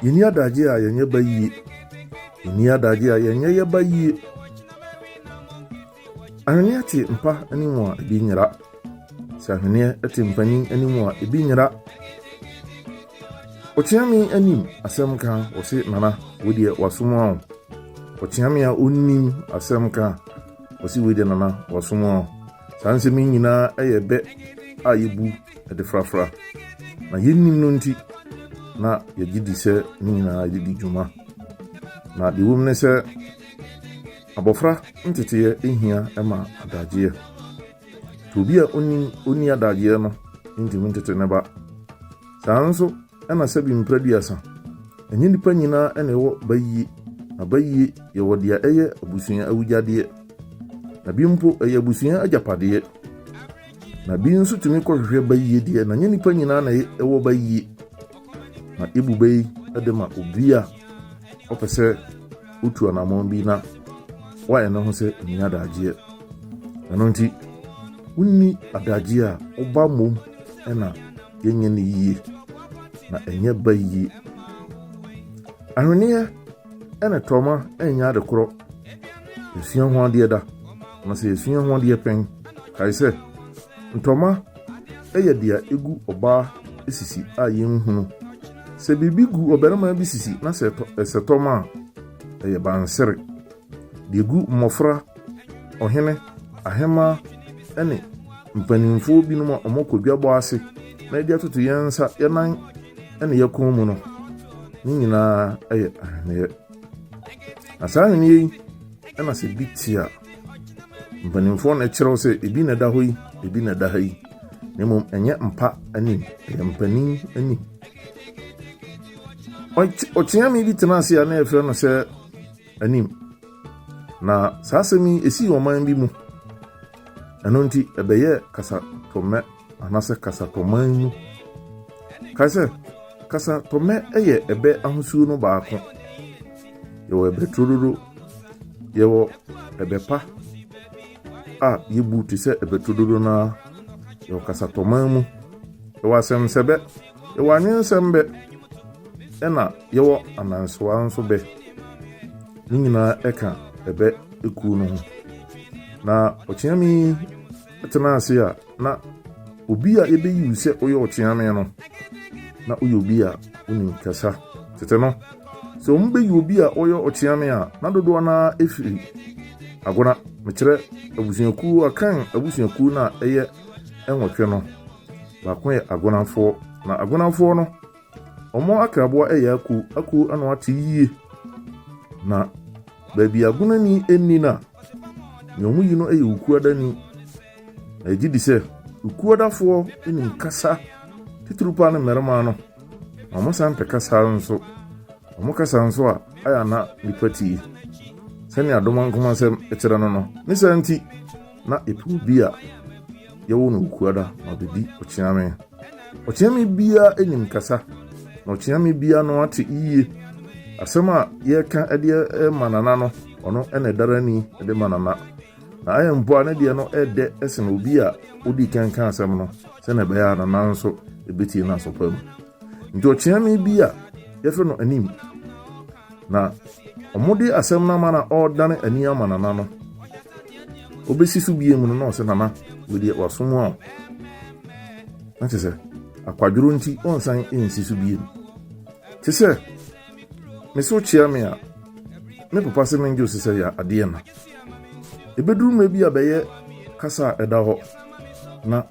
Yɛnni adagye a yɛnyɛ ba yie. Yɛnni adagye a yɛnyɛ yɛ ba yie. Ahweneɛ te mpa anim a ebi nyera. Sɛ ahweneɛ te mpanin anim a ebi nyera. Ɔteame anim asɛm ka ɔse nana wo deɛ wasom a o. Ɔteame a ɔnnim asɛm ka ɔse wei deɛ nana wasom a o. Saa nsɛm yi nyinaa yɛ bɛ a yɛbu de frafra. Na yɛnnim no nti, na yɛgye di sɛ ne nyinaa de di dwuma. Na deɛ wɔm ne sɛ abɔfra nteteɛ hia ma adagyeɛ. Nti obi a ɔnim ɔnni adagyeɛ no ntumi ntete ne ba. Saa nso Ɛna sɛ bi mpra duasa. Ɛnyɛ nnipa nyinaa na ɛwɔ bayie, na bayie yɛwɔ deɛ ɛyɛ abusua awugyadeɛ, na bi mpo ɛyɛ abusua agyapadeɛ, na bi nso tumi kɔhwehwɛ bayie deɛ, na ɛnyɛ nnipa nyinaa na ɛwɔ bayie, na yɛbu bɛ yi de ma obi a ɔpɛ sɛ ɔtu anammɔn bi na wayɛ ne ho sɛ ɔnni adagyeɛ. Ɛno nti, wonni adagyeɛ a, woba mmom na yɛnyɛ no yie na ɛnyɛ ba yie ahweneɛ ɛna tɔma ɛnyɛ ade korɔ yɛsua ho adeɛ da na sɛ yɛsua ho adeɛ pɛn kae sɛ ntɔma ɛyɛ deɛ ɛgu ɔbaa sisi a yɛnhunu sɛ biribi gu ɔbarima bi sisi na sɛ ɛsɛ tɔma a ɛyɛ bansere Deɛ ɛgu mmɔfra, ɔhene, ahemmaa ne mpanimfoɔ binom a wɔkɔ dwabɔ ase na yɛde atoto yɛn nsa, yɛn nan ne yɛn kɔn mu no, ne nyinaa yɛ ahweneɛ. Na saa ahweneɛ yi na sɛ bi te a, mpanimfoɔ na ɛkyerɛw sɛ ebi na ɛda hɔ yi, ebi na ɛda ha yi, na mmom ɛnyɛ mpa anim, ɛyɛ mpanin anim. Ɔkyeame bi tena ase a na yɛfrɛ no sɛ anim. Na saa asɛm yi esii ɔman bi mu. Ɛno nti ɛbɛyɛɛ kasatɔmmɛ anaasɛ kasatɔman mu. Kae sɛ, kasatɔmmɛ yɛ ɛbɛ ahosuo no baako. Yɛwɔ ɛbɛ turododo, yɛwɔ ɛbɛ pa a yɛbu te sɛ ɛbɛ turododo no ara, yɛwɔ kasatɔman mu, yɛwɔ asɛmsɛbɛ. Yɛwɔ anwensɛm bɛ, ɛna yɛwɔ amansewa nso bɛ. Ne nyinaa ɛka ɛbɛ ekuo no ho. Na ɔkyeame yi tena ase a na obi a yɛbɛyiw sɛ ɔyɛ ɔkyeame no na ɔyɛ obi a ɔnim kasa. Tete no, sɛ wɔn bɛyi obi a ɔyɛ ɔkyeame a na dodoɔ no ara ɛfiri agona, mekyerɛ abusuakuo akan abusuakuo no a ɛyɛ nwɔtwe no. Baako yɛ agonamfoɔ. Na agonamfoɔ no, wɔn akraboa yɛ akuo. Akuo ano ate yie. Na baabi agonani nni no a, nea wɔyi no yɛ okuadani. Na ɛgye di sɛ okuadafoɔ nim kasa titiriw paa ne mmarima no. Na wɔsan pɛ kasa nso. Wɔn kasa nso a ayɛ ana nipa tie. Sɛnea Doma nkomasɛm kyerɛ no no, ne saa nti na epuw bi a yɛwɔ no Wukuada ma obedi ɔkyeame. Ɔkyeame biara nim kasa, na ɔkyeame biara no ate yiye. Asɛm a yɛka de ma nana no, ɔno na ɛdara ni de ma nana. Na ayɛ mpo a ne deɛ no ɛdɛ sen obi a odi kan ka asɛm no, sɛnea ɛbɛyɛ a nana nso ebetie no asɔpa mu. Nti ɔkyeame bi a yɛfrɛ no anim. Na wɔde asɛm no ama na ɔredane ani ama Nana no. Obesi so bie mu no na ɔsɛ Nana wedeɛ wasom a na kyerɛ sɛ akwadworo nti ɔnsan nsi so bie mu. Te sɛ me so kyea me a me papa sɛ mengye ose sɛ yɛ adeɛ na. Ebeduru mmerɛ bi a bɛyɛ kasa a ɛda hɔ na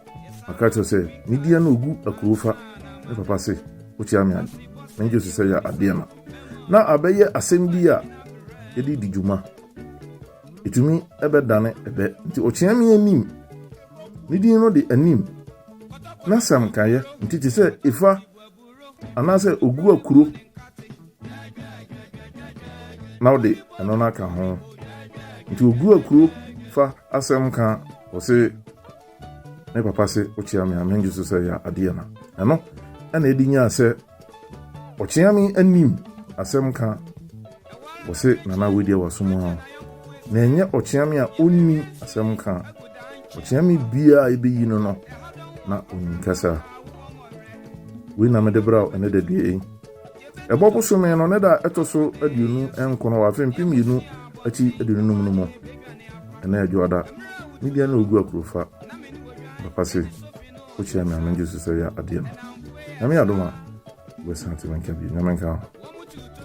maka kyerɛ sɛ ne deɛ no ogu akurofa me papa se wokyea me a mengye ose sɛ yɛ adeɛ na. na abɛyɛ asɛm bi a yɛde di dwuma. Ɛtumi bɛdane ɛbɛ. Nti ɔkyea me anim. Ne din no de anim. Na sɛm kaeɛ nti te sɛ efa anaasɛ ogu akuro na ɔde ɛno no aka ho. Nti ogu akuro fa asɛm ka ɔse Me papa se okyea me a mengye so sɛ ɛyɛ adeɛ na ɛno ɛna ɛdi nyaa sɛ ɔkyea me anim asɛm ka wɔse nana wei deɛ wasom a na ɛnyɛ ɔkyea me a ɔnni asɛm ka ɔkyea me biaa a ɛbɛyi no no na ɔnim kasa wei na mede bra ɛne da dua yi Ɛbɔ bosome no ne da a ɛtɔ so aduonu nkron wɔ afe mpem mmienu akyi aduonu num no mu. Ɛne Adwoada, ne deɛ ne Ogu Akurofa. Papa se, wokyia me a mengye so sɛ yɛ adeɛ no. Nyame adom a, wobɛsan ate me nka bio. Nyame nka wo.